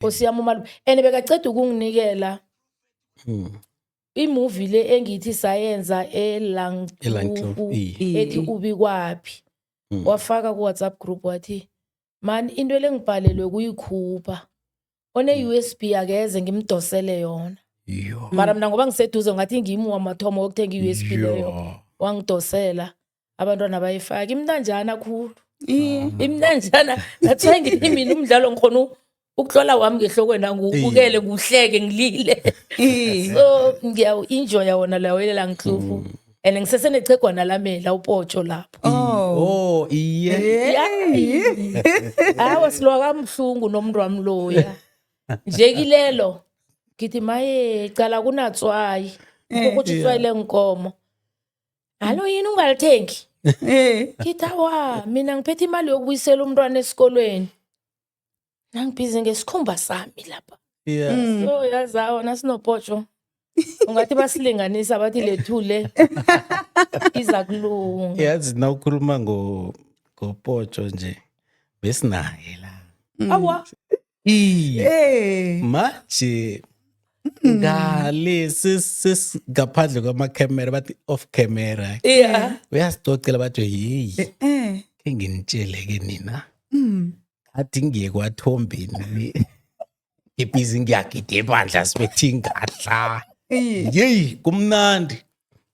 Nkosi yami umalume. And bekaceda ukunginikela Mm. imovie le engithi sayenza Elankloof, eLangkloof eh. I- ethi i- ubikwaphi. Mm. Wafaka ku WhatsApp group wathi man into lengibhalelwe kuyikhupha. One USB akeze ngimdosele yona. Yo. Mara mina ngoba ngiseduze ngathi ngimi wamathomo wokuthenga iUSB leyo. Yo. wangidosela abantwana bayifake imntanjana khulu imntanjana that's why ngithi mina umdlalo ngikhona u- ukuhlola wami ngehlokweni angiwubukele ngiwuhleke ngilile so ngiyawu-enjoya wona lawelela ngihlufu and ngisesenechegwana lami la upotsho lapho Oh, iye. hawa silwa kabuhlungu nomntu wami loya nje kilelo ngithi maye cala kunatswayi kukuthi itswayi lenkomo alo yini ungalithengi Eh. ngithi awa mina ngiphethe imali yokubuyisela umntwana esikolweni nangibhizi ngesikhumba sami lapha Yeah. Mm. so yazi awa nasinopotsho ungathi basilinganisa bathi lethule iza kulunga yazi na ukhuluma ngo ngopotsho nje besinaye la Mm. awa hey. Eh. manje hmm. ngale sesingaphandle kwamakhemera bathi off camera yeah. uyasicocela bathi yeyi eh, eh. enginitshele-ke nina hmm. athi ngiye kwathombeni ngibhizi ngiyagida ebandla sibethe ingadla yeyi kumnandi